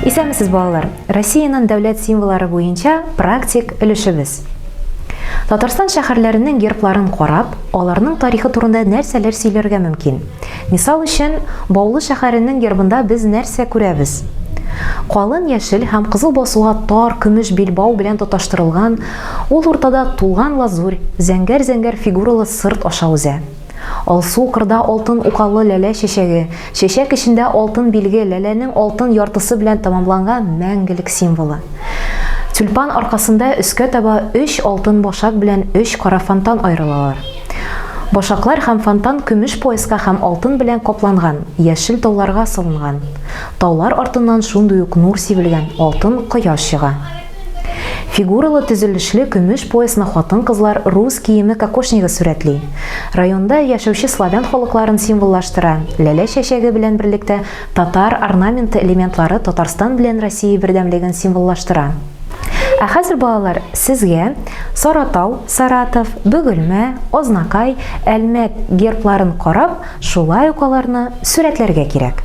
Исәнмесез, балалар! Россиянең дәүләт символлары буенча практик өлешебез. Татарстан шәһәрләренең гербларын карап, аларның тарихы турында нәрсәләр сөйләргә мөмкин? Мисал өчен, Баулы шәһәренең гербында без нәрсә күрәбез? Калын яшел һәм кызыл басуга тар көмеш билбау белән тоташтырылган Ул уртада тулган лазурь, зәңгәр-зәңгәр фигуралы сырт аша узә. Алсу кырда алтын укалы ләлә чәчәге, чәчәк эчендә алтын билге, ләләнең алтын яртысы белән тәмамланган мәңгелек символы. Тюльпан аркасында өскә таба өч алтын башак белән өч кара фонтан аерылалар. Башаклар һәм фонтан көмеш пояска һәм алтын белән капланган яшел тауларга салынган. Таулар артыннан шундый ук нур сибелгән алтын кояш чыга. Фигуралы төзелешле көмеш пояслы хатын-кызлар рус киеме кокошнигы сурәтли. Районда яшәүче славян халыкларын символлаштыра, ләлә чәчәге белән берлектә татар орнаменты элементлары Татарстан белән Россия бердәмлеген символлаштыра. Ә хәзер, балалар, сезгә Саратау, Саратов, Бөгелмә, Азнакай, Әлмәт гербларын карап, шулай ук аларны сурәтләргә кирәк.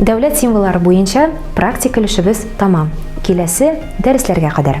Дәүләт символлары буенча практик өлешебез тамам. Киләсе дәресләргә кадәр.